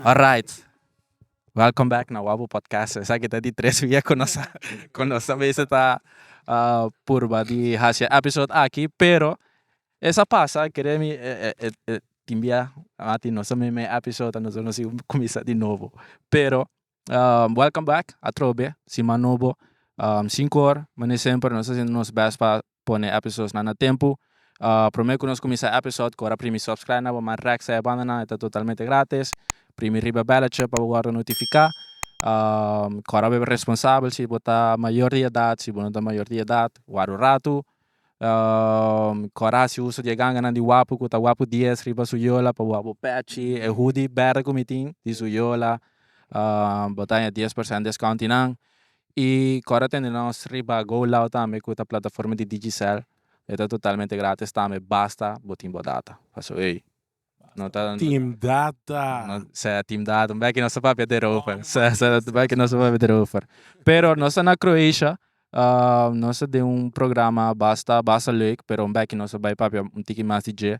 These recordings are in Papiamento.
Alright, welcome back na Wabu Podcast. Esaki ta di tres bia ku nos a ku nos a mester ta purba di hasi e episode aki, pero e sa pasa kere mi e e e tin bia a tin nos ta meme e episode a nos a kumisa di nobo pero. Um, welcome back atrobe, siman nobo, um, sin kor, mane semper nos ta haciendo nos best pa pone episodes nan a tempo. Um, prome cu nos cuminsa episode cu ora primi subscribe na bo, man recta e banda nan, e ta totalmente gratis, primi riba e belletje pa bo wordo notifica, um, cora bo e responsabel si bo ta mayor di edad, si bo no ta mayor di edad, warda un rato, Coraci usa di e ganganan di wapu cu ta wapu dies riba su yola pa wapu pechi e hudi berde cu mi tin di su yola bo ta haña dies percent discount di nan y ora tende nos riba go loud tambe cu ta plataforma di digicel e ta totalmente gratis tambe basta bo tin bo data pasobra ey. No ta. Team data. No sea team data un beki nos ta papia derover sea sea un beki nos ta papia derover pero nos ta na Croatia nos ta den un programa basta basta leuk pero un beki nos ta bai papia un tiki mas di dje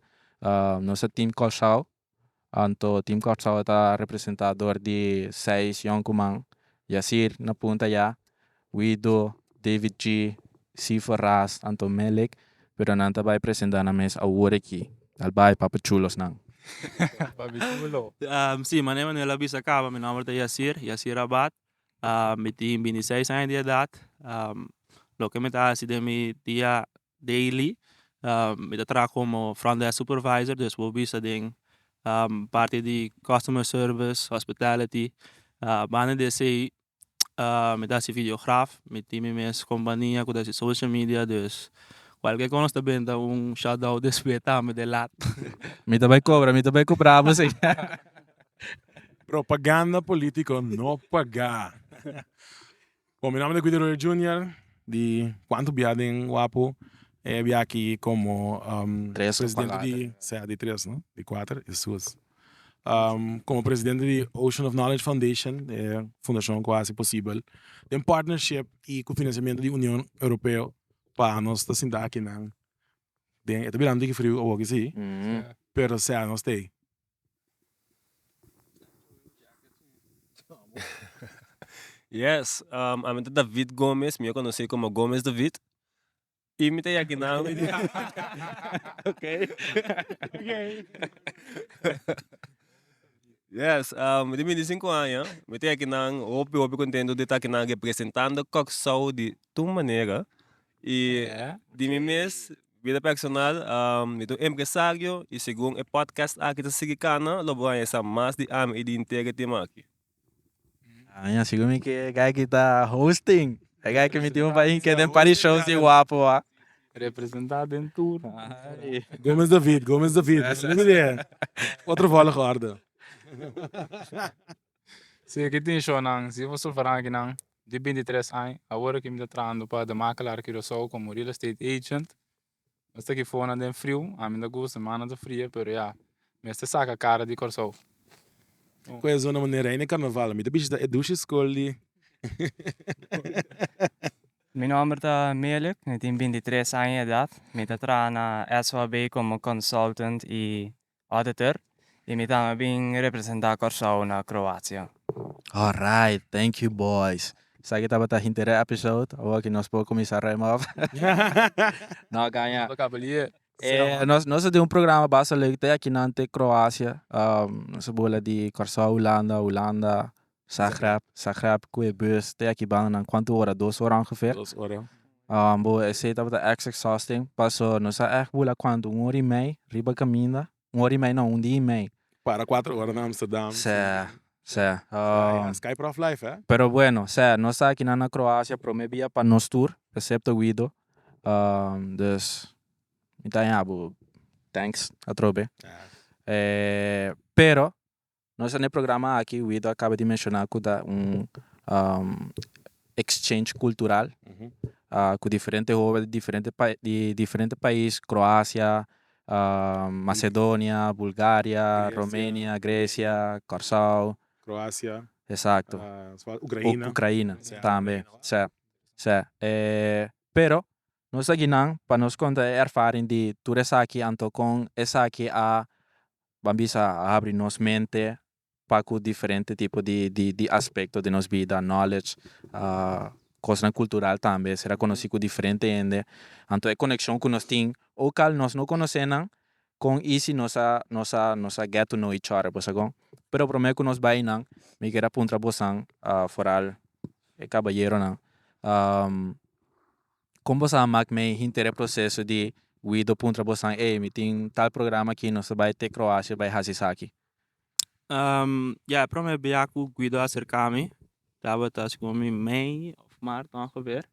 nos ta team Kòrsou anto team Kòrsou ta representa dor di seis yonkuman yasir na punta ya. Guido, David G. Sifa Ras, Anton Melek, pero nan ta bai presenta nan mes awor aki. Al bai Papi Chulos nan. Papi chulo. Si, mane Manuel a bisa caba, mi nomber ta Yacir, Yacir Abad, mi tin binti i seis aña di edad, loke mi ta haci den mi dia daily, mi ta traha como front desk supervisor, dus bo bisa den parti di customer service, hospitality, banda di esey mi ta hasi videograf mi tin mi mes kompania ku ta hasi social media dus kualker kon nos ta benta un shutdown des beta mi de lat. Mi ta bai kobra mi ta bai kobra abo si. Propaganda politico no paga. Bon mi namen ta Guido Royer Junior di kuantu bia den wapu e bia aki komo presidente di tres no di kuater e sus. komo presidente di Ocean of Knowledge Foundation, e fundashon ku hasi posibel, den partnership i ku finansiamentu di Union Europeo pa nos ta sinta akinan den e ta bira un tiki friu awoki si pero sea nos ta ei. Yes ami ta David Gomez mi a konosé komo Gomez David Y mi ta yaki nan mi di ok. Yes um mi di binti sinku aña mi ta yaki nan hopi hopi contento di taki nan representando Kòrsou di tur manera y di mi mes bida personal um mi ta un empresario y segun e podcast aki ta sigui cana lo bo a yesa mas di ami y di integro team aki. Aña si gumi ke guy ki ta hosting e guy ki miti un pain ke den pari shows di wapo a Representa den tur Gomez David Gomez David otro volg ordo si aki tin shownan si for sulfra aki nan di binti tres aña awor aki mi ta trahando pa de makelaar Curaçao como real estate agent Esta aki fonan den friu ami no ta gusta mi mano ta fria pero ya mester saca cara di Kòrsou. Cu e zona manera ay na e carnaval mi ta bishita e dushi school di. Mi nomber ta Melek mi tin binti tres aña edad mi ta traha na SOAB como consultant y Auditor, Y mi tambe bin representa Corsou na Croacia. Alright, thank you boys. Esaki tabata hinterè episode, awor ki nos por kuminsá rem op. No kaña. Nos a kaba lié. Nos nos a den un programa basta leuk te akinan te Croacia, nos a bula di Corsou, Hulanda, Hulanda, Zagreb, Zagreb cu e bus te aki banda nan cuanto ora? Dos ora ongeveer? Dos ora. Um, bo, esey tabata ex exhausting, paso nos a ex bula cuanto, un ora y mey riba caminda, un ora y mey no, un dia y mey. Para cuatro ora na Amsterdam. Sè, sè. Sky, Um, sky prof life, hè? pero bueno, sè, nos ta akinan na Croacia prome bia pa nos tur, excepto Guido, um, dus mi ta yabu thanks atrobe. Èè. Eh, pero Nos a na e programa aki Wido a kaba di menshoná ku ta un exchange kultural ku diferente hoben di diferente pais di diferente pais Kroasia Masedonia Bulgaria Romenia Gresia Kòrsou esakto Ukraina tambe sè sè pero Nos ta guinan pa nos konta e erfaring di tur esaki anto kon esaki a ban bisa a habri nos mente pa ku diferente tipo di di aspekto di nos bida, knowledge, kosnan kultural tambe, ser a konosí ku diferente hende, anto e konekshon ku nos tin owk al nos no konosé nan kon i si nos a nos a nos a get to know each other por si a kon. Pero promé ku nos bai einan mi ker a puntra bosnan foral e kabayeronan. Kon bo sa mak mei hinter e proseso di Guido puntra bosan ey mi tin tal programa aki nos ta bai te Croacia bai haci esaki? Ya e prome bia cu Guido acerca mi tabata segun mi mei of maart ongeveer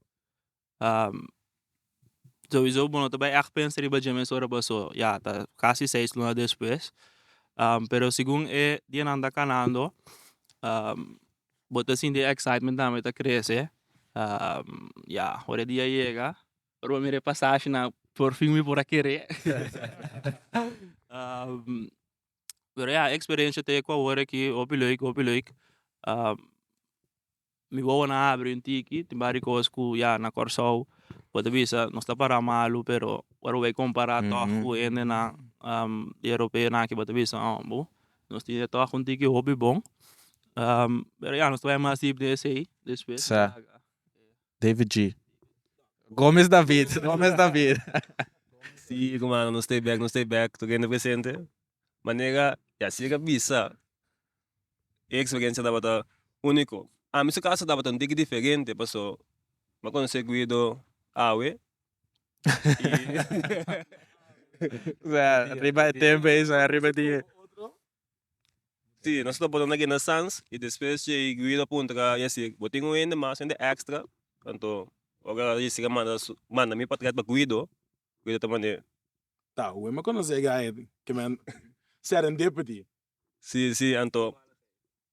sowiso bo no ta bai echt pensa riba dje mes ora paso ya ta casi seis luna despues pero segun e dianan ta canando Bo ta sinti e excitement tambe ta crece ya ora e dia yega ora bo mira e pasashi nan por fin mi por a kere pero ya e experencia ta ecuador aki hopi leuk hopi leuk mi wowo nan a habri un tiki tin bari cos cu ya na Kòrsou bo ta bisa nos ta para malu pero ora bo bai compara tòg cu hende nan europeo nan aki bo ta bisa bo Nos tin e tòg un tiki hopi bon. Pero ya, nos ta bai mas dip den esei despues. Sa. David G. Gomez David, Gomez David. Si hermano, nos ta e bek, nos ta e bek, tur hende presente. Manera, ya si e ka bisa, e experiencia tabata unico. Ami su caso tabata un tiki diferente, paso mi a conoce Guido awe, riba e tempo ey sa riba di e. Si nos ta botando guinda sans y despues djey Guido a puntra a y a sigue bo tin un hende mas hende extra anto ora a sigue a manda su manda mi pa tret pa Guido Guido ta manda ta ue me conoce ey guy ke me a seren deputy si si anto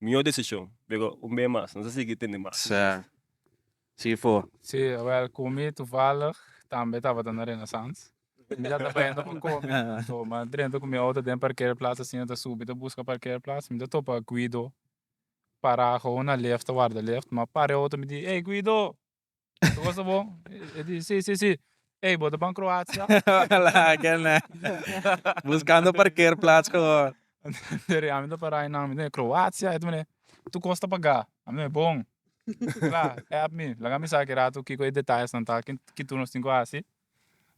Mihó desishon, pero un bes mas nos a sigui tende mas i mas. Sigui for. Sí, awel cu mi toevallig tambe tabata na Renaissance. Mi ta trabajando pa comi, so mi a drenta cu mi auto den parkeerplaats asina ta subi ta busca parkeerplaats. Mi ta topa Guido para gou na lift ta warda lift. Mi a para e auto mi di, Ey Guido! Tu gosta bon? E di, si, si, si. Ey, bo ta ban Kroatia? Hola, ken nan? Buskando parkeerplats komo. Deri ami ta para einan, mi di, Kroatia? E di mi, tu gosta pagá? Ami di, bon. Kla, help mi, laga mi sa kerato kiko e detayesnan ta, kin tur nos tin ku hasi.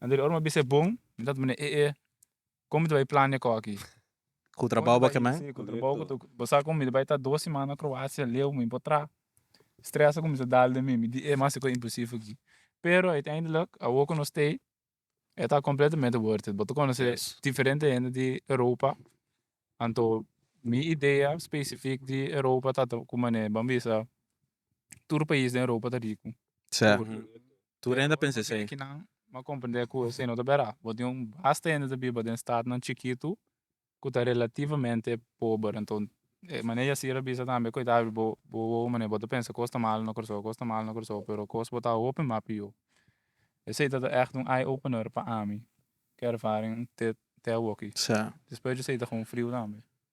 Deri ora mi a bisa e bon, mi tabata mira e e. Kon mi ta bai plania ku aki? Ku trabou bo kem'é? Si, ku trabou ku tur. Bo sa kon mi ta bai ta dos simana Kroasia leu mi por traha. Stres a kuminsá dal den mi, mi di e mas e ku impresivo aki. Pero uiteindelik awor ku nos stay e ta kompletamente worth it. Bo ta konosé diferente hende di Europa, anto mi idea specifiek di Europa ta ku mane ban bisa tur pais den Europa ta riku. Tur hende a pensa esei. Kinan a komprendé ku esei no ta bera? Bo tin un basta hende ta biba den statnan chikitu ku ta relativamente pober. Anto e mane Yasir a bisa tambe, koitá abi bo bo wowo mane bo ta pensa kos ta malo na Kòrsou, kos ta malo na Kòrsou, pero kos bo ta hopi mas pió. Esei tabata ègt un eye opener pa ami, ki ervaring te te awoki. Despues di esei ta kon friu tambe.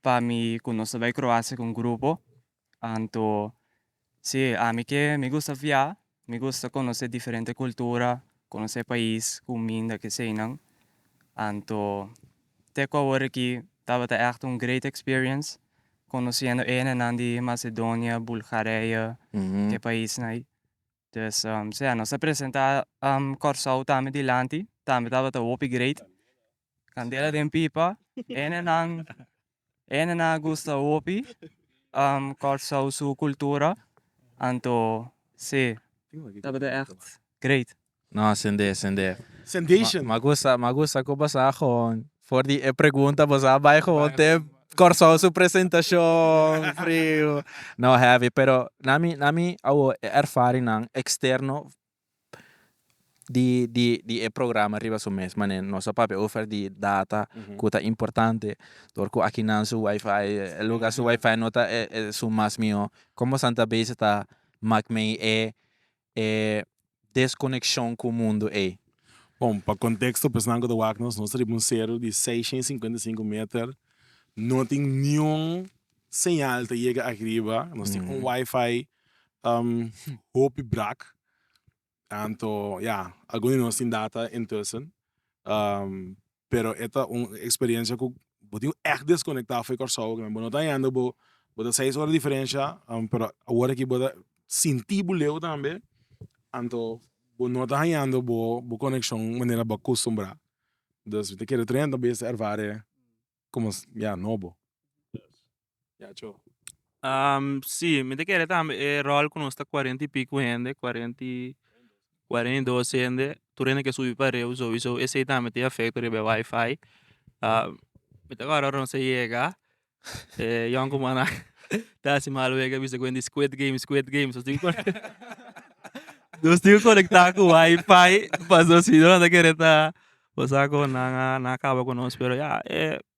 pa mi cu nos ta bay Croacia cu un grupo anto si ami ke mi gusta via mi gusta conoce diferente cultura conoce pais cuminda keseynan anto te cu awor aki tabata echt un great experience conociendo enenan di Macedonia Bulgarije ke paisnan ay. Pues sea nos a presenta Kòrsou tambe dilanti tambe tabata hopi great kandela den pipa enenan enenan a gusta hopi Kòrsou su kultura anto si tabata ègt great. No sende sende. Sendation. Ma gusta ma gusta ku basá gewoon For di e pregunta bo sa bai gewoon te Kòrsou su presentashon friu. No heavy pero na mi na mi a wou e erfarinan eksterno di di di e programa riba su mes manera nos a papia over di data ku ta importante dor ku akinan su wifi e luga su wifi no ta e su mas mihó kon bosadan ta bezig ta mak mei e e deskonekshon ku mundu ei. Bon, pa konteksto, pesonal ku ta wak nos, nos ta riba un seru di seishen i sinkuenta i sinku meter, no tin niun señal ta yega aki riba, nos tin un wifi hopi brak, tantu ya algun di nos tin data intussen pero e ta un experiencia cu bo tin echt desconecta afe Curaçao oca bo no ta yendo bo ta seis ora diferencia pero awor aki bo ta sinti bo leu tambe anto bo no ta hañando bo coneccion manera bo a custumbra dus mi ta kere treinta bes ta ervare como ya nobo. Ya cho. si mi ta kere tambe e rol ku nos ta cuarenta y pico hende cuarenta y cuarenta y dos hende tur hende ke subi pa riba sowieso esei tambe tin efecto riba e wifi mi ta wòrdu ora nos ta yega e yon kumannan ta hasi mal wek a bisa ku hende squid game squid game nos tin ku nos tin ku konekta ku wifi pasobra sinon anda kere ta pasa ku nan a kaba ku nos pero ya e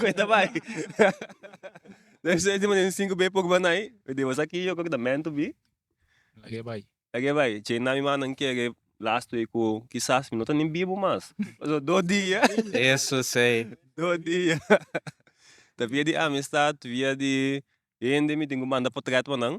Cuenta bay esey tin sinku bey pok bay nai mi debia sa ki yo cu ta mentu bi lag'e bay lag'e bay che na mi mannan kere las twee ku kisas mi no ta ni bibu mas pasobra dos dia eso esey dos dia ta via di amistad ta via di hende mi tin cu manda potret pa nan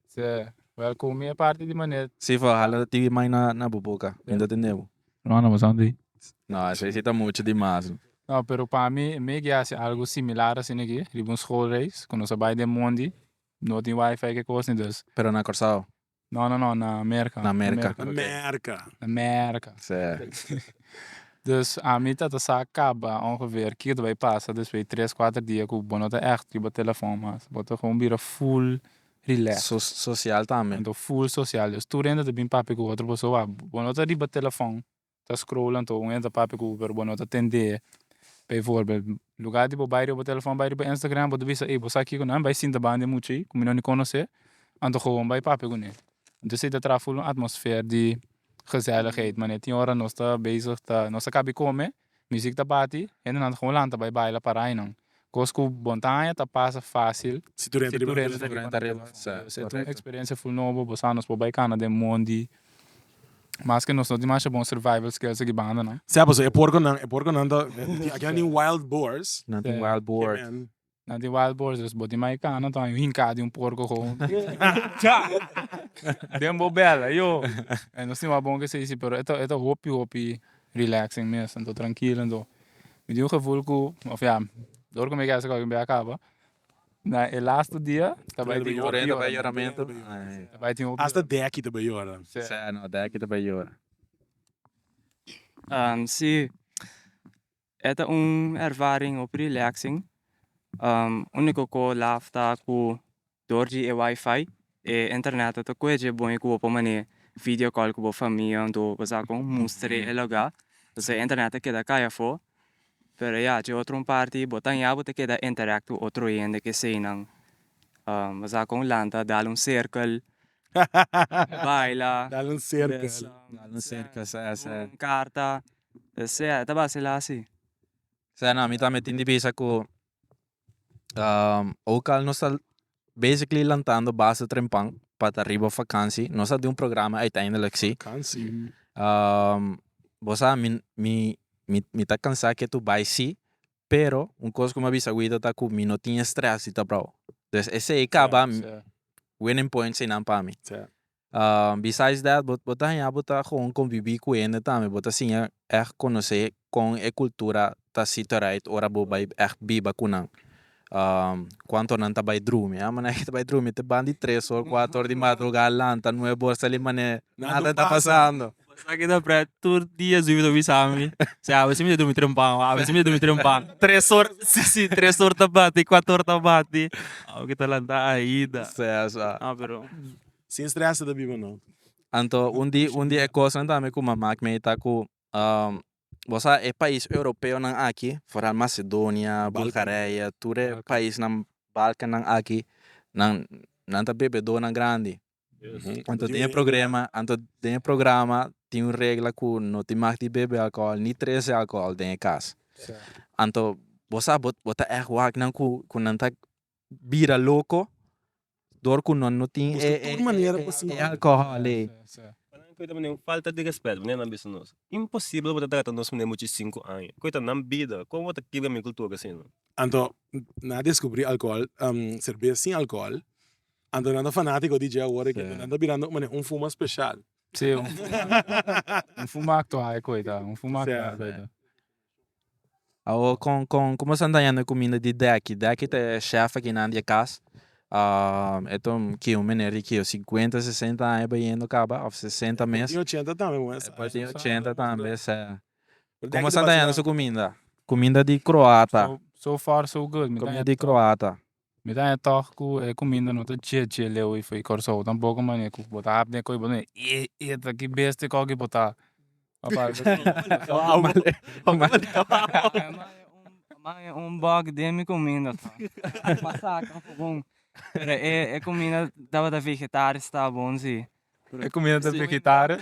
Seh, well cu mi e parti di Manet. Si for hala tibi mai na bo boca, mi ta tende bo. No no pasan di. No, esey si ta mucho di mas. No, pero pa mi e megi haci algo similar asina aki riba un schoolreis cu nos a bay den mondi, no tin wifi ke cos ni dus. Pero na Corsao? No no no, na Merca. Na Merca. Na Merca. Na Merca. Seh. Dus ami ta ta sa caba ongeveer kiko ta bay pasa despues di tres, cuater dia cu bo no ta echt riba telefon mas, bo ta gewoon bira full Rilek. Sosial tambe. Anto full sosial dus tur hende ta bin papia ku otro pasobra wak bo no ta riba telefon ta scroll anto un hende ta papia ku bo pero bo no ta tende p'e voorbeeld lugar di bo bai riba bo telefon bai riba Instagram bo ta bisa ey bo sa kiko nan bai sinta banda e mucha ei ku mi no ni konos'e anto gewoon bai papia kuné anto esei ta traha full un atmosfer di gezelligheid mane tin ora nos ta bezig ta nos ta kabi kome Music ta bati, hendenan ta como lanta bay baila pa rainan. Cos cu bon ta haña ta pasa facil si tur hende riba na telefonan. Pues e ta un experiencia full nobo, bo sa nos por bay cana den mondi, mas que nos no tin masha bon survival skills aki bandanan. Sey a paso e puerconan, e puerconan ta, tin aki nan tin wild boars, kemen. Na di wild boars dus bo tin mai cana tor un hinca di un porco con den bo bel ayo no sin wou bon kese si pero eta eta hopi hopi relaxing mes anto trankilo anto mi di un gevoel ku of ya dor ku mi kesa kos a kaba na e lastu dia ta bai tin hopi ta bai tin hopi asta deki ta bai yora se no deki ta bai yora si E ta un ervaring hopi relaxing, unico co laf ta cu dor di e wifi e internet no ta cueje bo y cu bo por mane video call cu bo famia anto bo sa con mustre e loga pasobra e internet ta keda cay afo pero ya dje otro parti bo ta aña bo ta keda interact cu otro hende kesenan bo sa con lanta dal un circle baila dal un circle un carta. Sea e ta bacila asi. Sea no mi tambe tin di bisa cu oca al nos ta basically lantando basa trempan pa ta riba vakantie nos a dun programa eindelijk si bo sa mi mi mi ta cansa ketu bai si pero un cos cu mi a bisa Wida ta cu mi no tin stress di taprao, esey caba winning points enan pa mi. Besides that bo ta haña bo ta gewoon konbibí ku hende tambe, bo ta siña ègt konosé kon e kultura ta situareit ora bo bai ègt biba ku nan, kuantu nan ta bai drumi, a manera ke ta bai drumi te ban di tres or kuater or di madrugá lanta nuebe or sali manera nada ta pasando. Esaki ta pret tur dia zuiba ta bisa mi, si abisin mi ta drumi trempa, abisin mi ta drumi trempa, tres or si si tres or ta bati, kuater or ta bati, awe ke ta lanta Aida, a pero. Sin stress ta biba no. Anto un di un di e cosnan tambe cu ma mak mei ta cu bo sa e pais europeonan aki foral Macedonia, Bulgarije tur e paisnan Balkannan aki nan nan ta bebedonan grandi anto den e progrema anto den e programa tin un regla cu no tin mag di bebe alcohol ni trece alcohol den e cas anto bo sa bo ta echt wak nan cu cu nan ta bira loco door cu no no tin e alcohol ey. Cu ta manera un falta di respeto manera nan bisa nos imposible bo ta trata nos manera mucha cinco aña cu ta nan bida como bo ta kibra mi cultura asina. Anto nan a descubri alcohol cerveza sin alcohol anto nan ta fanatico di dje awor cu nan ta birando manera un fuma special un fuma actual cu ta un fuma actual cu ta. Awo kon kon como san dañando e comida di deki deki ta e chef akinan di e cas e ta un ki un mener di ki cincuenta sesenta aña bayendo caba of sesenta mes e por tin ochenta tambe moe sa e por tin ochenta tambe sa como san dañando su cuminda cuminda di croata so far so good mi ta daña di croata. Mi ta haña tòg ku e kuminda no ta dje dje leu ei fo'i Kòrsou tampoko mane ku bo ta hap den ko'i bo ta wini ee eet aki bestia kòk ei bo ta un bòk den mi kuminda pero e kuminda tabata vegetaris ta bon si E kumida ta vegetario.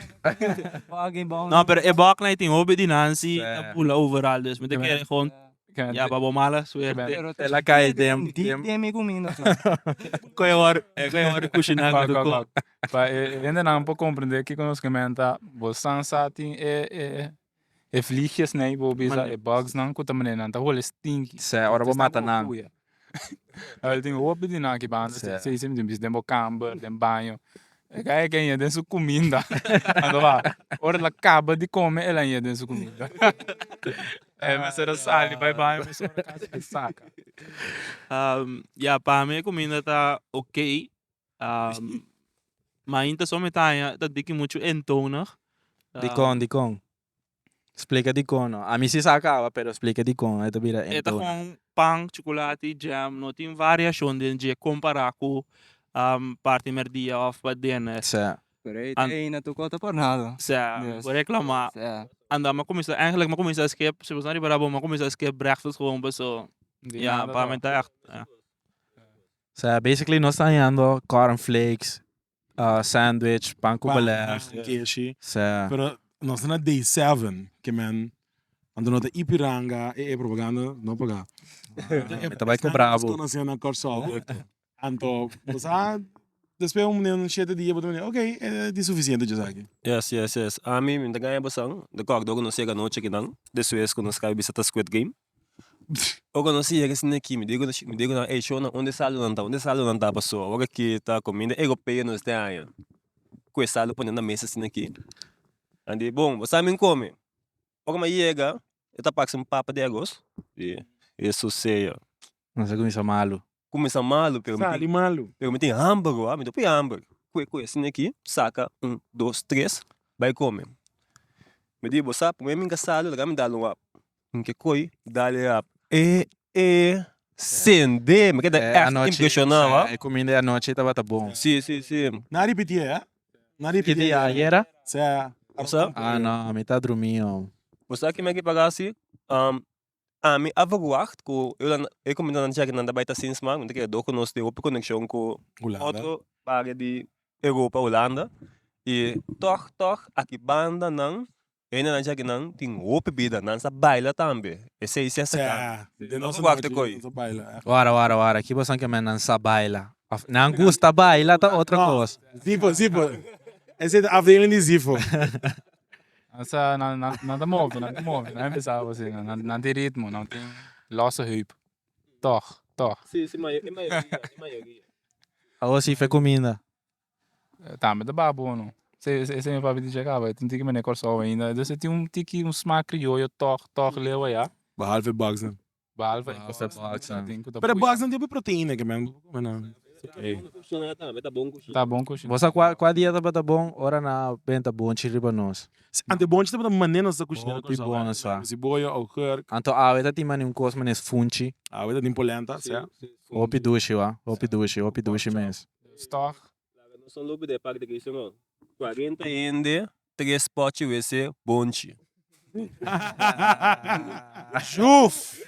No pero e bòk nai tin hopi di nan si ta bula over alto esei mi ta kere gon ya pa bo mala suerte tela kai den den mi kumina ko e wòrdu ko e wòrdu kushina pa e hende nan por komprende kiko nos kumenta bo san sa tin e e E vliegjes nei bo bisa e bugs nan ku ta manera nan ta huele stinky. Sè, ora bo mata nan. Awor tin hopi di nan aki banda sè sè esei mi tin bisa den bo kamber, den baño. E ka e keña den su kuminda. Ando a ora el a kaba di kome el a ña den su kuminda. E mester a sali bai baño mester ora kas a saka. Ya pa mi e kuminda ta ok ma ainta so mi ta haña ta diki muchu entonig. Dikon dikon? Splika dikon no. Ami si sa a kaba pero splika dikon e ta bira entonig. E ta kon pan, chukulati, jam, no tin variashon den dje kompara ku parti merdia òf pa dene. Sè. Pero e ta eina tok otro pornado. Sè, mi por reklama. Sè. Anda mi a kuminsá, ènglek mi a kuminsá skip, si bo sa riba rabou mi a kuminsá skip brèkfast, pasobra mi ta ègt. Sea basically nos ta hañando corn flakes, sandwich, pan cu beleg, kishi. Sea. Pero nos ta na day seven ke men anto no ta i piranga e e propaganda no paga. Mi ta bai cu brabo. Nos conoce na Corsou anto bo sa despues un munia un shete dia bo ta mira okay e di suficiente dje esaki. Yes yes yes ami mi ta gaña bo san de kòkdo ku nos yega anochi akinan despues ku nos kai bisa ta squid game. Bo conoci e gesin aki mi dico mi dico nan ey shownan unda e saldo nan ta unda e saldo nan ta paso awor ke aki ta cominda ey go pay nos este aña cu e saldo pone na mesa a sin aki a di bon bo sa amin come ora mi a yega e ta parse un papa di arroz y eso sea. Nan sa cuminsa malo. cuminsa malu pero mi tin sali malu pero mi tin hamber oa mi ta pui hamber cue cue asina aki saca un dos tres bay come mi di bo sa prome minga salo laga mi dalo un hap mi ke coy dal e hap e e sende mi keda echt impresiona oa e cominda di anochi tabata bon si si si na ripiti e eh na ripiti e ayera sa ah no mi ta drumi oa bo sa kimen aki paga si Ami a verwacht cu e comunidadnan di Jagenan ta bay ta sin sma, ta kere dor cu nos tin hopi conexion cu otro baria di Europa, Hulanda, y toch toch aki bandanan hendenan di Jagenan tin hopi bida, nan sa baila tambe, e seis ya seca, nos a wak ta coy. Wara wara wara, aki boso a kema nan sa baila, of nan gusta baila ta otro cos. Zifo zifo, esey ta afdeling di zifo. Nan sa nan nan nan ta move nan ta move nan mi sa boso nan nan nan tin ritmo nan tin losse heup tog tog. Awor si fe cuminda. Tambe ta baha bono ese ese ese mi papi di checaba e tin tiki mene Corsou ainda entonces tin un tiki un smaak criollo tog tog lewa ya. Behalve box nan. Behalve e cosas pero box no tin p'e proteina ke men por come nan. Ta bon cushiná. Bo sa cua cua dia tabata bon ora nan a benta bonchi riba nos. Si ante bonchi tabata mane nos ta cushiná cos awe. Hopi bon sa. Ciboya, augurk. Anto awe ta tin mane un cos mane es funchi. Awe ta tin polenta sa. Hopi dushi wa hopi dushi hopi dushi mes. Stock. Laga nos son lobi de e parti key sono cuarenta hende tres pochi wc bonchi. Shuf!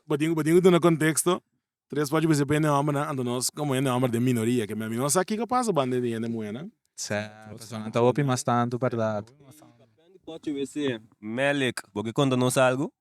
Bo tin bo tin cu duna contexto, tres pochi wc pa hende hombernan, anto nos como hende homber den minoria, keme ami no sa kico pasa banda den di hende muhernan. Certo, personanan ta hopi mas tanto berdad. Pochi wc, Melek, bo ke conta nos algo?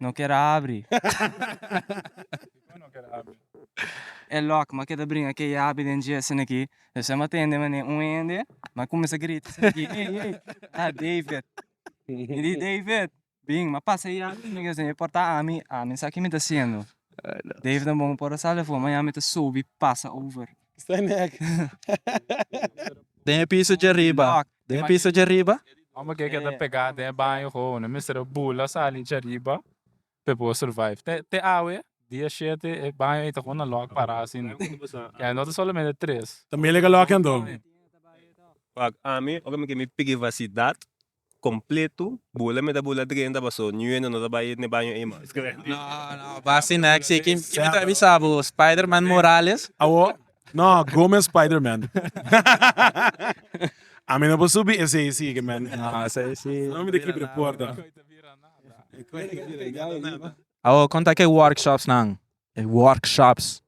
No ker a abri. E lòk ma keda bringa ke yabi den dje eseneki. Esei ma tende manera un hende ma kuminsa grita eseneki, Ey, ey, a David. Mi di, David, bin, ma pasa e yabi eseneki esei e por ta ami, ami sa ke mi ta hasiendo. David a bon por a sal efo, ma ya mi ta sobi pasa over. Den e piso dje riba. den e piso dje riba. Amo ke ke ta pega den e baño ho no mester a bula sali dje riba pa e por survive te te awe dia shete e baño ei ta kon a lock para asin ya no ta solamente tres Familia ke lock ando. Wak ami ora mi ke mi privacidad completo bula mi ta bula drenta paso ñue no no ta bai n'e baño ei mas. No no basi next si ki mi ta avisa bo spiderman morales. Awo No, Gomez Spiderman. A mi no por subi esei sí que men. Ah, sei sí. No mi de keep de porta. Awo, kon ta ke workshops nan? E workshops.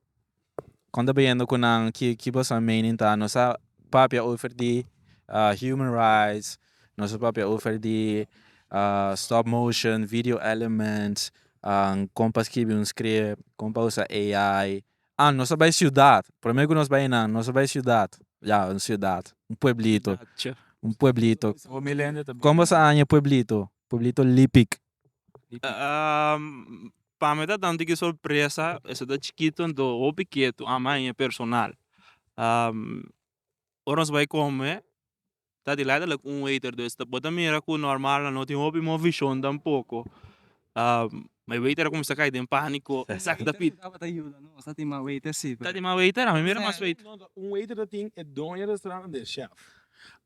Kon ta biendo ku nan ki ki boso mening ta? Nos a papia over di ah human rights, nos a papia over di ah stop motion, video elements, ah kon pa skibi un script, kon pa usa AI, Ah, nos a bai siudat. Promé ku nos bai einan, nos a bai siudat. Ya, un siudat. Un pueblito. Un pueblito. Kon bo sa aña e pueblito? Pueblito Lipik. Pa mi ta tantu ki sorpresa, esei ta chikitu, anto hopi ketu, a mi aña personal. Ora nos bai come ta di lado lek un waiter dus bo ta mira ku normal nan no tin hopi mo vishon tampoco ma e waiter a cuminsa cay den panico esaki ta pidi ta tin mas waiter si ta tin mas waiter mi mira mas waiter un waiter ta tin e doña restaurante y e chef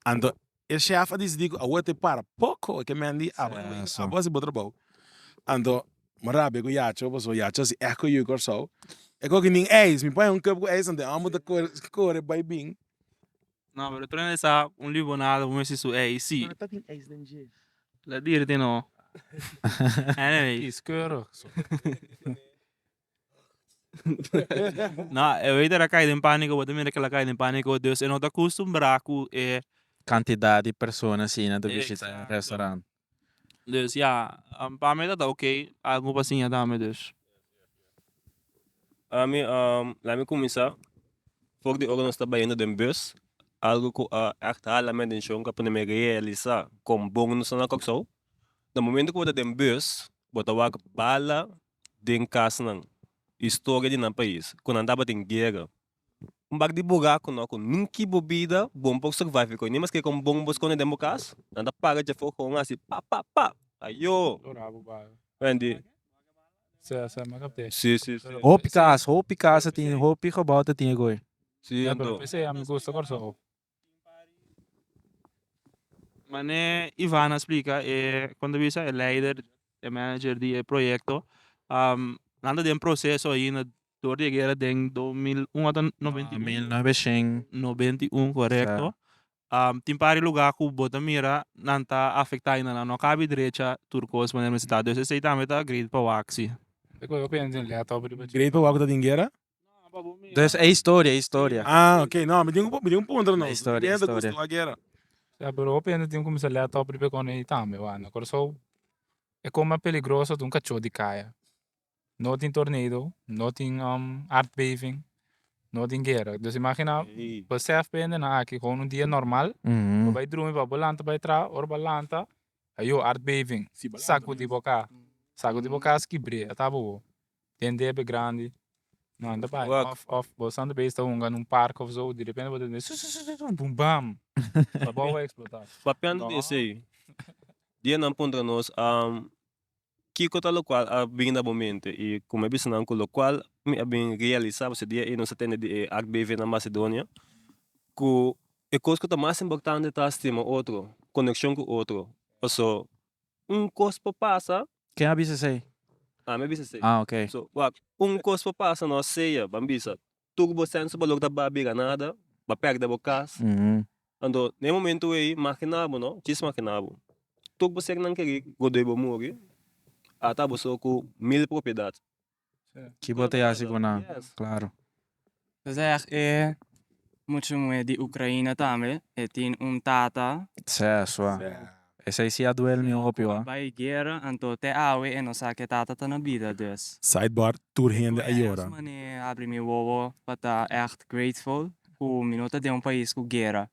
anto e shèf a decidí ku awor te para poko e ke mèn di awor a hasi bo trabou anto mi rabia ku yaco paso yaco a hasi èk ku yu kòrsou e kò ke nin eis mi pon un kòp ku eis anto e hòmber ta kore bai bin. No pero e prende sa un libonada bo mi a hasi su eis si ladirti no anyways. No e waiter a kai den panico bo ta mira kel a kai den panico dus e no ta custumbra cu e cantidad di persona asina ta bishita e restaurant dus ya pa mi ta ok algo pa siña ta mi dus. Ami lami cuminsa for di ora nos ta bayendo den bus algo cu a echt hala mi atencion cu a pone mi realisa con bon nos ta na Kòrsou den momento cu bo ta den bus bo ta wak bala den kasnan i storia di nan pais ku nan tabatin guera. Un bak di bura ku no ku nunki bo bida bon por survive ku e ni mas kere kon bon bo skonde den bo kas, nan ta para dje for kon hasi pa pa pa ayoo. Hopi kas hopi kas ta tin hopi gebou ta tin e goi. Mane Ivan a splika e kon ta bisa e leider e manager di e proyekto nan ta den proseso aina dor di e guera den dos mil un ota noventa y uno novecento noventa y uno correcto tin par e lugar ku bo ta mira nan ta afecta aina nan no kabi drecha tur cos manera mi ta dus esei tambe ta great pawac si great pawac ta den guera Entonces, e historia, e historia. Ah, ok. No, mi tin ku, mi tin ku puntra no. E historia, e historia. Gusto a guera. Ya, pero hopi hende tin kuminsá lèt òf riba e kòne ei tambe, wak. Na Kòrsou, e kos mas peligroso ta un kachó di kaya. No tin tornado, no tin aardbeving, no tin guera. Dus imaginá, besèf pa e hendenan aki, gou un dia normal, bo bai drumi, bo a bai lanta bai traha, ora bo a lanta, ayo, aardbeving, sakudi bo kas. Sakudi bo kas, kibr'é, a taba bo. Den debe grandi no anda bai of of bo standa bes ta hunga na un parke of so direpente bo ta tende su su su su bum bam ta bo a explota papiando di esey dia nan puntra nos kiko ta locual a bini na bo mente y como he bisa nan cu locual mi a bin realisa pasobra dia ey nos a tende di e HBV na Macedonia cu e cos cu ta mas importante ta stima otro coneccion cu otro pasobra un cos por pasa Ken a bisa esei? Ah, mi a bisa esei. Ah, ok. So, wak, un kos por pasa nos sea, ban bisa, tur ku bo sense bo lo ku ta ba bira nada, ba pèrdè bo kas. Anto, na e momentu ei, makina bo no, djis makina bo. Tur bo seknan keri, godoi bo muri, ata bo so ku mil propiedat. Ki bo ta yasi ku nan? Klaru. Zeg e muchu muhé di Ukraina tambe e tin un tata. Sez ua. Esei si a duel mi un hopi ua. Bai guera anto te awe e no sa ke tata ta na bida des. Sidebar, Tur hende a yora. Goeie esmane abri mi wowo pa ta echt grateful ku mi no ta den un pais ku guera.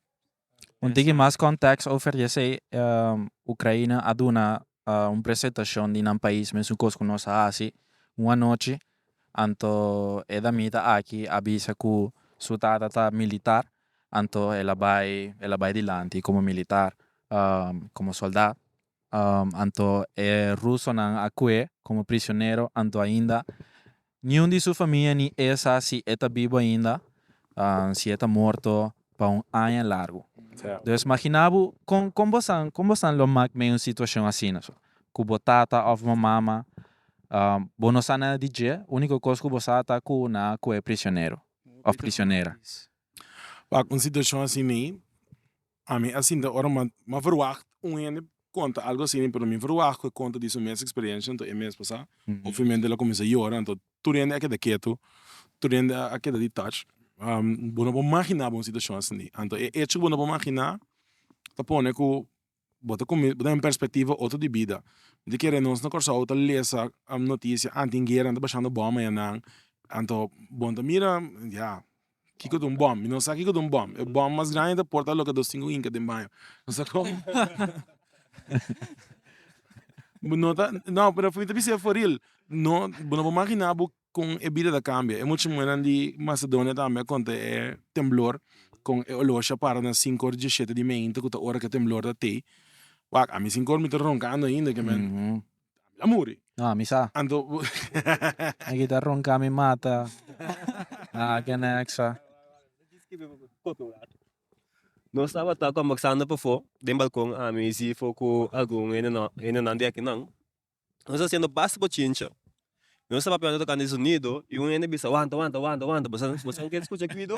Un tiki mas kòntèks over yesei, Ukraina a duna un presentashon di nan pais, mesun kos ku nos a hasi un anochi, anto e damita aki a bisa ku su tata ta militar, anto el a bai el a bai dilanti komo militar, komo sòlda, Anto e rusonan a kue komo prisionero, anto ainda niun di su famia ni e sa si e ta bibu ainda, si e ta morto pa un aña largu. Dus maginá bo kon kon bo san kon bo san lo mak mei un situashon asina so ku bo tata òf bo mama, bo no sa nada di dje, úniko kos ku bo sa ta ku nan a kue prisionero òf prisionera. Pak un situashon asina ei. a mi a sinta ora ma ma verwagt un hende konta algu asina pero mi verwagt ku e konta di su mes eksperensia anto e mes pasá ofemente el a kuminsá yora anto tur hende a keda ketu tur hende a keda di touch bo no por imaginá bo un situashon asina anto e echo ku bo no por imaginá ta pone ku bo ta bo ta den perspektiva otro di bida di kere nos na Kòrsou ta lesa notisia anti guera anta bashando bòm mañanan anto bo ta mira ya. Kiko ta un bòm? Mi no sa kiko ta un bòm. E bòm mas grandi ta porta loke dos sinku inka den baño. No sa kon. Bo no ta, no, pero mi ta bisa e for real. No, bo no por magina bo kon e bida ta kambia. E mucha muhernan di Macedonia tambe a konta e temblor kon e olosha a para na sinku òr dieshete di meinta ku ta ora ku e temblor ta tei. Wak, ami sinku òr mi ta ronkando ainda, ke men. Ami a muri. No, ami sa. Anto bo. Mi kita ronca mi mata. A ke nexa. Nos tabata conversando pafo den balcon ami, Zifo cu algun hendenan di akinan. Nos a haciendo basta bochincha. Nos ta papiando tocante di sonido y un hende bisa wanta wanta wanta wanta bo sa bo sa kier escucha guido?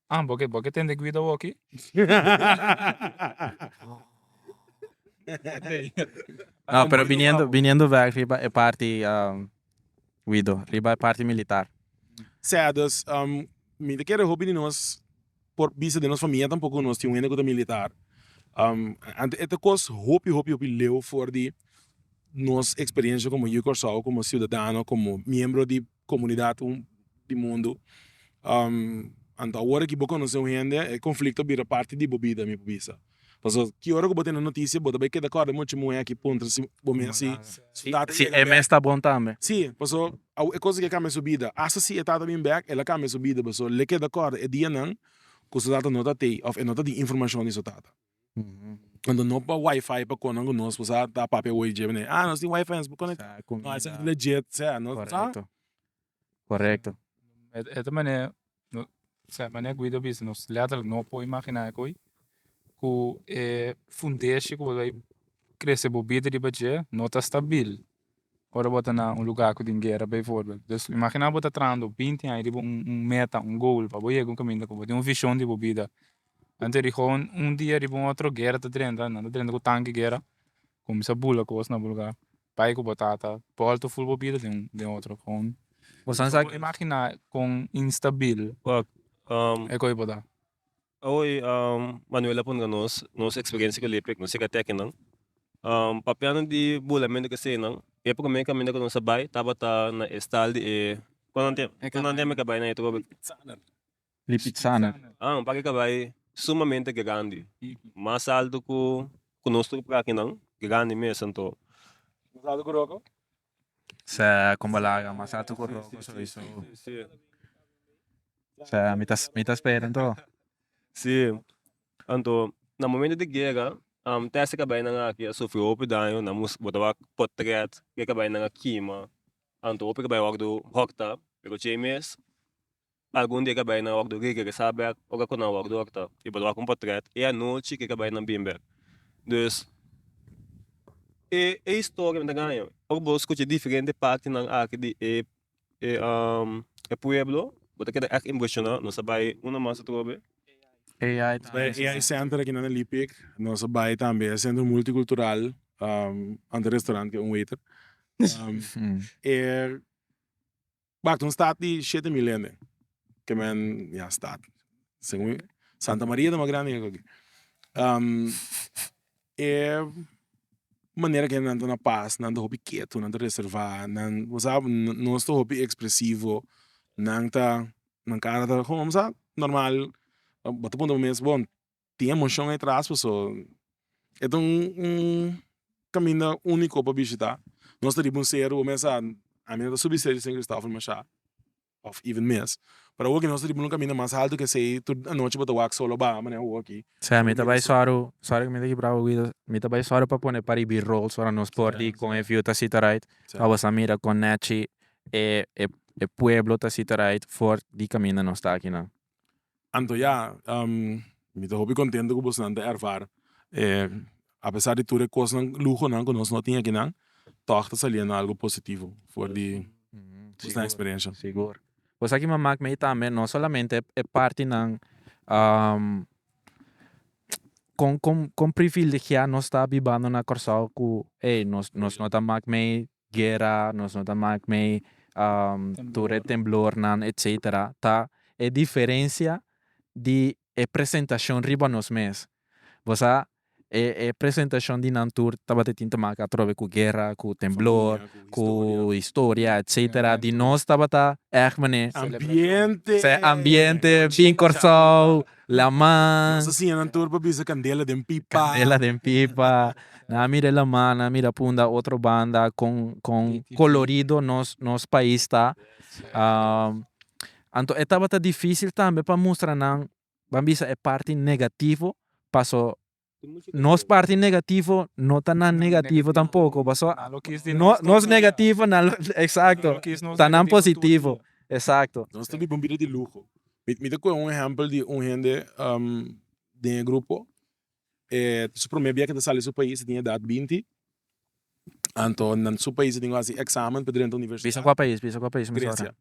Ah bo ke bo ke tende guida woki. No pero biniendo biniendo back riba e parti Guido riba e parti militar. Sea dus mi ta kere hopi di nos por bisa den nos famia tampoco ku nos tin un hende ku ta militar anto e ta kos hopi hopi hopi leu for di nos experiencia komo yu Kòrsou komo ciudadano komo miembro di comunidad un di mundo anto awor aki bo conoce un hende e conflicto bira parti di bo bida mi por bisa pasobra ki ora cu bo tene noticia bo ta bay keda corda mucha muhe aki puntra si bo mes si su tata si e mes ta bon tambe si pasobra awe e cosa aki a cambia su bida asta si e tata bini bek el a cambia su bida pasobra el a keda corda e dianan cu su tata no ta tey of e no ta tin informacion di su tata. Cuando no pa wifi pa conan cu nos pues a ta papia awor y djeba ne ah nos tin wifi nos por conecta Sa con no esa de jet sea no sa correcto correcto e e ta mane no esa e mane Guido a bisa nos letterlijk no por imagina e coi cu e fundeshi cu bo ta bay crece bo bida riba dje no ta stabil. Ora bo ta na un lugá ku tin guera, beivoorbeeld, dus imaginá bo ta trahando binti aña riba un un meta, un goal, pa bo yega un kaminda ku bo tin un vishon di bo bida. Anto di houn un dia riba un otro guera ta drenta, nan ta drenta ku tanki guera, kuminsá bula kos na bo lugá, bai ku bo tata, bòltu ful bo bida den den otro houn. Bo sa imaginá kon instabil e kos bo ta. Awor Manuel a puntra nos nos experiencia cu Lepek nos yega teki nan papiando di bulamentu cu esey nan e primer caminda cu nos a bay tabata na e stal di e cu nan tem e cabai na e trobe Lipizzaner un parke cabai sumamente grandi mas alto cu nos tur por aki nan grandi mes anto nos a logrogo. sea como laga mas alto cu roco sowieso sea mi ta mi ta spera anto si anto na momento di guera tesa cabaynan aki a sufri hopi daño nan moest bota wak potret y e cabaynan a kima anto hopi cabaynan wak dor hòkta pero djei mes Algun dia ke a bai na wòkdor Grieke ke sa bèk ora ku nan wòkdor ta i por wak un potrèt e anochi ke ke a bai nan bin bèk. Dus, e e historia mi ta gaña ora bo skucha diferente partinan aki di e e pueblo bo ta keda èk impreshoná, nos a bai una mas atrobe. AI Center aki na Lipik, nos a bai tambe e Centro Multicultural ante e restaurant ke un waiter e Bak un stad di shete mil hende ke men ya stad según santa maria ta mas grandi ke aki e manera ke nan ta na pas nan ta hopi ketu nan ta reserva nan bo sa nos ta hopi expresivo nan ta nan kara ta gong bo sa normal bo ta puntra bo mes bon tin emocion ey tras pues so e ta un un caminda unico pa bishita nos ta riba un cerro awor mesa ami no ta subi cerro di san Christopher masha of even mes pero awor nos ta riba un caminda mas alto ke esey tur anochi bo ta wak solo baha manera awor aki mi ta bay solo sorry cu mi ta kibra bo guido mi ta bay solo pa pone pa riba e rolls ora nos por di con e view ta sita right pa bosa mira con nechi e pueblo ta sita right for di caminda nos ta akinan. Anto ya mi ta hopi contento cu bosnan ta erfar apesar di tur e cosnan luhonan cu nos no tin akinan tog ta saliendo algo positivo for di bosnan experiencia. Cosa aki a mak mei tambe no solamente e partinan con privilegia nos ta bibando na Kòrsou cu ey nos nos no ta mak mei guera nos no ta mak mei tur e temblornan etcetera ta e diferencia di e presentacion riba nos mes bo sa e e presentacion di nan tur tabata tin ta mak atrobe cu guera cu temblor cu historia etcetera di nos tabata echtmane ambiente bin Corsou. Laman. Nos a siña nan tur pa bisa candela den pipa. Candela den pipa. Nan a mira e laman, nan a mira punda otro banda con con colorido nos nos pais ta. Anto e tabata dificil tambe pa mustra nan, ban bisa e parti negativo paso Nos parti negativo no ta nan negativo tampoco pasobra nan lo kiss di nos también nos negativo nan lo exacto nan lo kiss nos ta nan positivo tur dia exacto nos ta biba un bida di luho mi mi ta coge un ehempel di un hende den e grupo e ta su prome biahe ta sali su pais e tin edad binti anto nan su pais a tin cu hasi examen pa drenta universidad bisa cua pais bisa cua pais Grecia.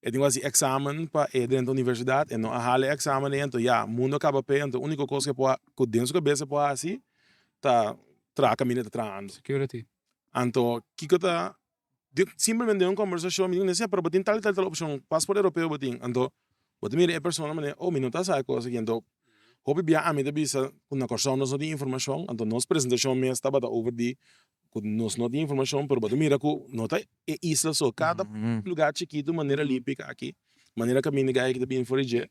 E tin ku hasi eksamen pa e drenta e universidat, e no a hala e eksamen de ento, ya, mundo a kaba p'e, anto úniko kos ku e por, ku den su kabes e por hasi ta traha kaminda e ta trahando. Security. Anto kiko ta, di simplemente den un kombersashon mi dibi, pero bo tin tal i tal i tal opshon, pasport Europeo bo tin, anto bo ta mira e persona manera, oh mi no ta sa e kos aki, anto hopi bia ami ta bisa ku na Kòrsou nos no tin informashon, anto nos presentashon mes tabata over di cu nos no tin informacion pero bo ta mira cu no ta e isla so cada lugar chikitu manera limpia ca aki manera caminda guy aki ta bini for di dje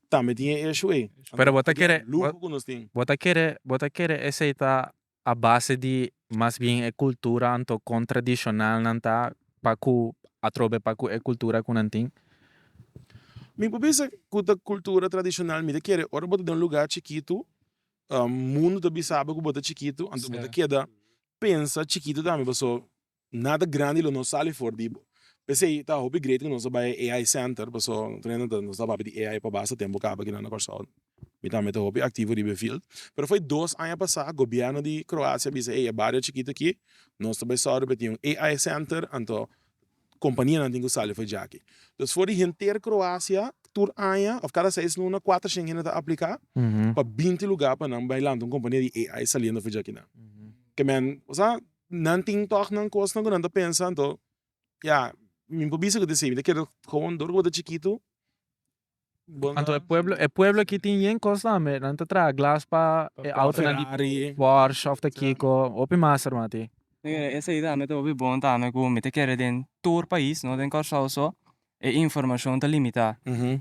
tambe tin e issue ey pero bo ta kere luho cu nos tin bo ta kere bo ta kere esey ta a base di mas bien e cultura anto con tradicional nan ta pa cu atrobe pa cu e cultura cu nan tin. Mi por bisa cu ta cultura tradicional mi ta kere ora bo ta den un lugar chikitu Mundu ta bisabe ku bo ta chikitu, anto bo ta keda pensa chikitu tambe paso nada grandi lo no sali for di bo. P'esei ta hopi great ku nos a bai e AI center paso nos ta papia di AI pa basa tempu kaba kila na Kòrsou. Mi tambe ta hopi aktivo riba e field. Pero foi dos aña pasá gobièrnu di Kroasia a bisa ey e bario chikitu aki nos ta bai sòru pa tin un AI center anto kompanianan tin ku sali for di aki. Entonces for di henter Kroasia tur aña òf kada seis luna kuater shen hende ta apliká pa binti lugá pa nan bai lanta un kompania di AI saliendo for di aki nan. Ke men, kusada nan tin tòg nan kosnan ku nan ta pensa, anto ya mi por bisa ku ta esei, mi ta kere komo dor ku bo ta chikitu. Anto e pueblo e pueblo aki tin yen cos tambe nan ta traha glass pa e autonan di Porsche of ta kico hopi mas hermano tin. Esey tambe ta hopi bon tambe cu mi ta kere den tur pais no den Kòrsou so e informacion ta limita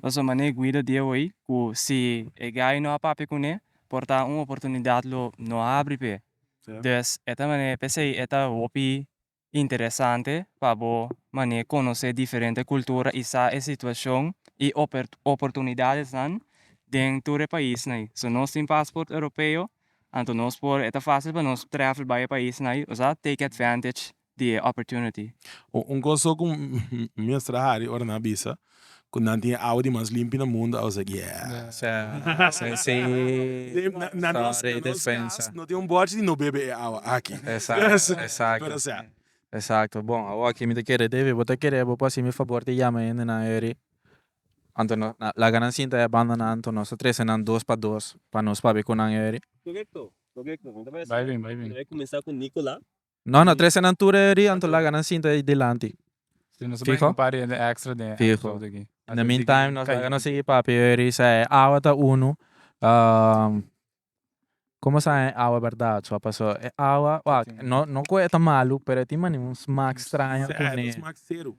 pasobra mane Guido di awey cu si e guy no a papia cune por ta un oportunidad lo no a abri pe e. Dus e ta mane pesey e ta hopi interesante pa bo manera conoce diferente cultura y sa e situacion y oportunidadesnan den tur e paisnan ey. So nos tin passport Europeo anto nos por e ta facil pa nos travel bay e paisnan ey osea take advantage di e opportunity. Un conseho cu mi a mester a hari ora nan a bisa cu nan tin e awa di mas limpi na mundo, I was like yes, na nos cas no tin un bochi di no bebe e awa aki, pero sea. Exacto bon awo aki mi ta kere David bo ta kere bo por haci mi favor di yama hende nan ayeri anto nos laga nan sinta e banda nan anto nos ta trece nan dos pa dos pa nos papia cu nan ayeri. No no trese nan tur eri anto laga nan sinta ey dilanti. Si nos a bringa un par di hende extra den e episode aki. Fijo. In the mean time nos laga nos sigui papia eri sa e awa ta uno como sa e awa berdad so paso e awa wak no no cu e ta malo pero e tin mane un smaak straño cune. Smaak cero.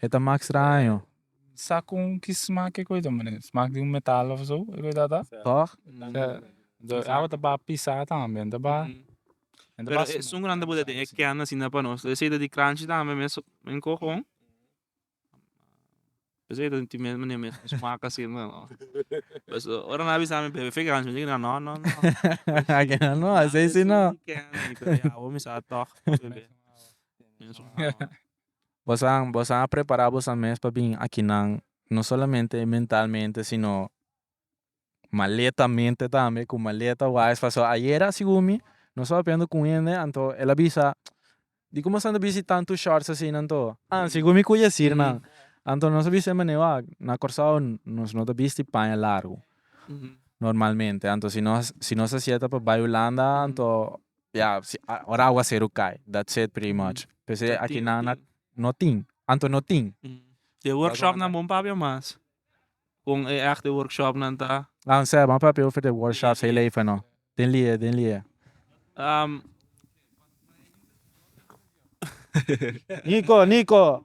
E ta mak straño. Sa kon ki smak e koida mane? Smak di un metal of so e koida ta? Tòg? Dor awa ta ba pisá tambe en ta ba. Pero e sun grandi bo ta den e kèn asina pa nos. Esei ta di crunchy tambe mes den kogon. Esei ta tin mes mane mes smak asina no. Pues ora nan a bisa mi bebe fik anshi mi dina no no no. Esei si no. Kèn mi ta di awo mi sa tòg. Bosan, bosan a prepará bosan mes pa bin akinan, no solamente mentalmente sino maletamente tambe, ku maleta wais. Pasobra ayera segun mi nos staba hablando ku un hende anto el a bisa, dikon bo stanta bisti tantu shorts asina anto? A segun mi ku e yesir nan anto nos a bisa den manera wak, na Kòrsou nos no ta bisti paña largu normalmente, anto si nos si nos ta sienta pa bai hulanda anto Ya si ora awa seru cay that's it pretty much p'esey aki nan a no tin anto no tin. E workshop nan bon papia mas con e echte workshop nan ta. Nan sey m'a papia over de workshops heel even no den lie den lie. Nico Nico.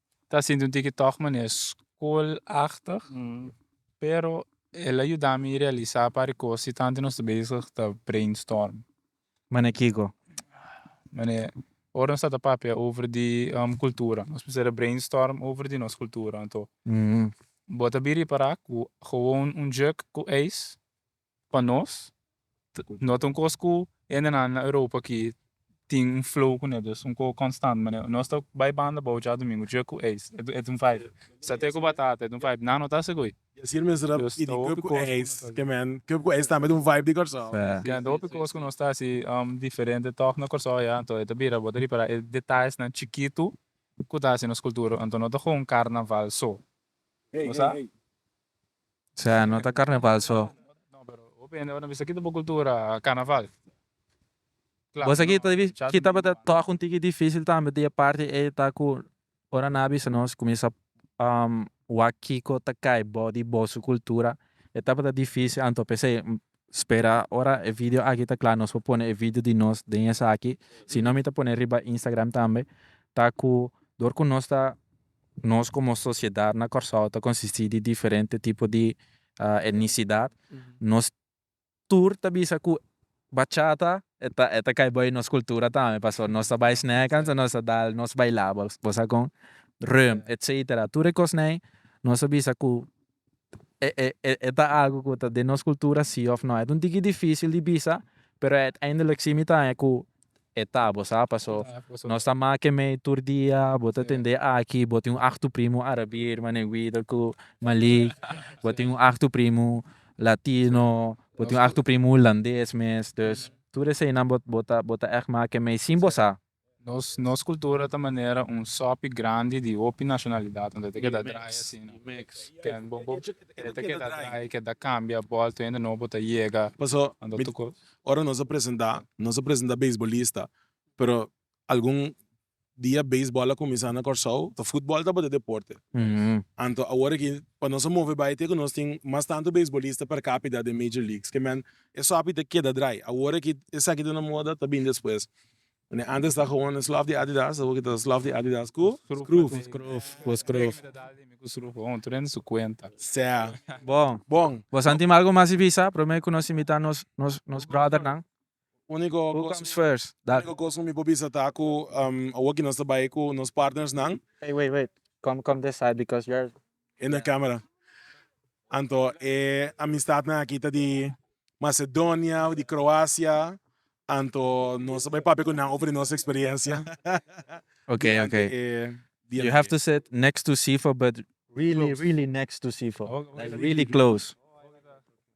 Ta sinti un tiki tòg manera skolachtig, pero el a yuda mi realisá un par di kos di tantu nos ta bezig ta brainstorm. Manera kiko? Manera, ora nos ta ta papia over di kultura, nos mester ta brainstorm over di nos kultura. Anto, bo ta bira i pará ku gewoon un djòk ku eis Pa nos no ta un kos ku hendenan na Europa aki tin un flow ku nel, un kos konstant manera nos ta bai banda bou djadomingo dje ku eis e ta un vibe, sate ku batata e ta un vibe nan no ta ase goi. Dje ku eis tambe ta un vibe di Kòrsou. Kende ta hopi kos ku nos ta hasi diferente tòg na Kòrsou ya anto e ta bira bo ta ripará e detallesnan chikitu ku ta hasi nos kultura anto no ta kon karnaval so, kusá? Sea no ta carnaval so. No pero hopi hende aver no bisa kiko ta bo cultura carnaval. Bo sa kita di ki tabata toch un tiki dificil tambe di e parti ey ta cu ora nan a bisa nos cuminsa wak kiko ta cay bo di bo su cultura e tabata dificil anto pesey spera ora e video aki ta cla nos por pone e video di nos den esaki sino mi ta pone riba Instagram tambe ta cu door cu nos ta Nos komo sosiedat na Kòrsou ta konsistí di diferente tipo di etnisidat. Nos tur ta bisa ku bachata e ta kai bai nos kultura tambe pasobra nos ta bai snèkans en nos ta dal nos bailá bo sa kon rèm etcétera tur e kosnan nos ta bisa ku e ta algu ku ta den nos kultura si òf nò. E ta un tiki difísil di bisa, pero uiteindelik si mi ta haña ku e ta, bo sa, paso nos ta make mei tur dia, bo ta tende aki, bo tin un ahtu primu arabir, mane Guido ku Malik, bo tin un ahtu primu latino, bo tin un ahtu primu hulandes mes, dus tur eseinan bo ta bo ta bo ta ègt make mei sin bo sa. Nos nos cultura ta manera un sopi grandi di hopi nacionalidad unda ta keda draai asina ken bo bo unda ta keda draai keda cambia ball tu hende nobo ta yega Paso mi ora nos a presenta nos a presenta beisbolista pero algun dia beisbol a cuminsa na Corsou ta futbol tabata deporte anto awor aki pa nos a move bai te cu nos tin mas tanto beisbolista per capita den major league skeman e sopi ta keda draai awor aki esaki ta na moda ta bin despues Unda antes ta gewoon slòf di Adidas awo kita slòf di Adidas ku skrùf. Skrùf, bo skrùf. Bai kita dal ku skrùf ho tur hende su kuenta. Sea. Bon. Bon. Bo san tin algu mas di bisa? Promé ku nos invitá nos nos nos bròdernan. Úniko kos. Who comes first? Dal. Úniko kos ku mi por bisa ta ku awoki nos ta bai ku nos partnersnan. Wait wait wait. Kom kom this side because you're E na camera. Anto e amistadnan aki ta di Macedonia of di Croacia, anto nos bai papia cu nan over di nos experiencia durante e dianan You have to sit next to Sifo but really really next to Sifo, like really close.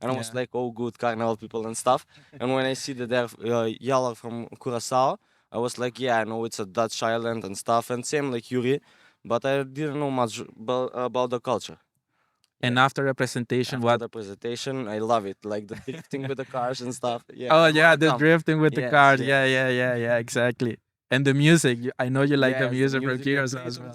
and I was like oh good carnaval people and stuff and when I see the there yall are from Curaçao I was like yeah I know it's a Dutch island and stuff and same like Yuri but I didn't know much about the culture and after the presentation what after the presentation I love it like the drifting with the cars and stuff yeah oh yeah the drifting with the cars yeah yeah yeah yeah exactly and the music I know you like the music from Curaçao as well.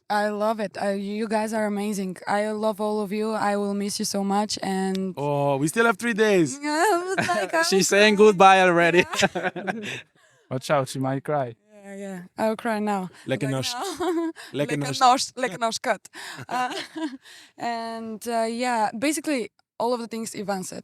I love it you guys are amazing I love all of you I will miss you so much and Oh we still have three days She's saying goodbye already Watch out she might cry Yeah yeah I will cry now Lekker nors Lekker nors Lekker nors cut And yeah basically all of the things Ivan said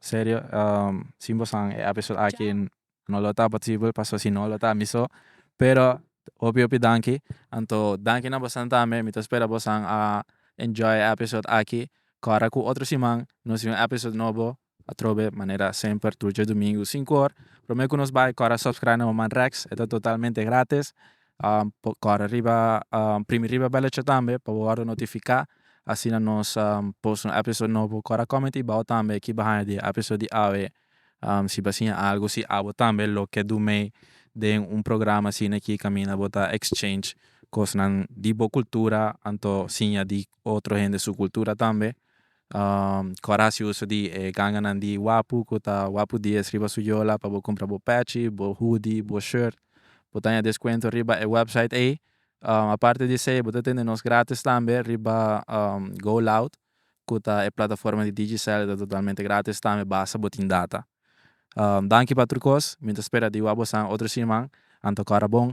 Serio sin bo san e episode aki no lo ta posibel pasobra si no lo ta mi so pero hopi hopi danki anto danki na bosan tambe mi ta spera bosan a enjoy e episode aki kora ku otro siman nos tin un episode nobo atrobe manera semper tur djadomingu sinku or prome ku nos bai kora subscribe na manman rex e ta totalmente gratis. por kore riba primi riba belletje tambe pa bo worde notifica asina nos post un episode nobo kore a comment y bao tambe kiba haya di e episode di awe si ba siña algo si abo tambe lo ke do mee den un programa asina aki kaminda bo ta exchange cosnan di bo cultura anto siña di otro hende su cultura tambe ku a hasi uso di e ganganan di wapu ku ta wapu dies riba su yola pa bo kumpra bo pechi, bo hudi, bo shirt, bo ta haña deskuento riba e website ei, aparte di esei bo ta tende nos gratis tambe riba go loud ku ta e plataforma di digicel e ta totalmente gratis tambe basta bo tin data. Danki pa tur kos, mi ta spera di wou a bosan otro siman, anto kòrda bon.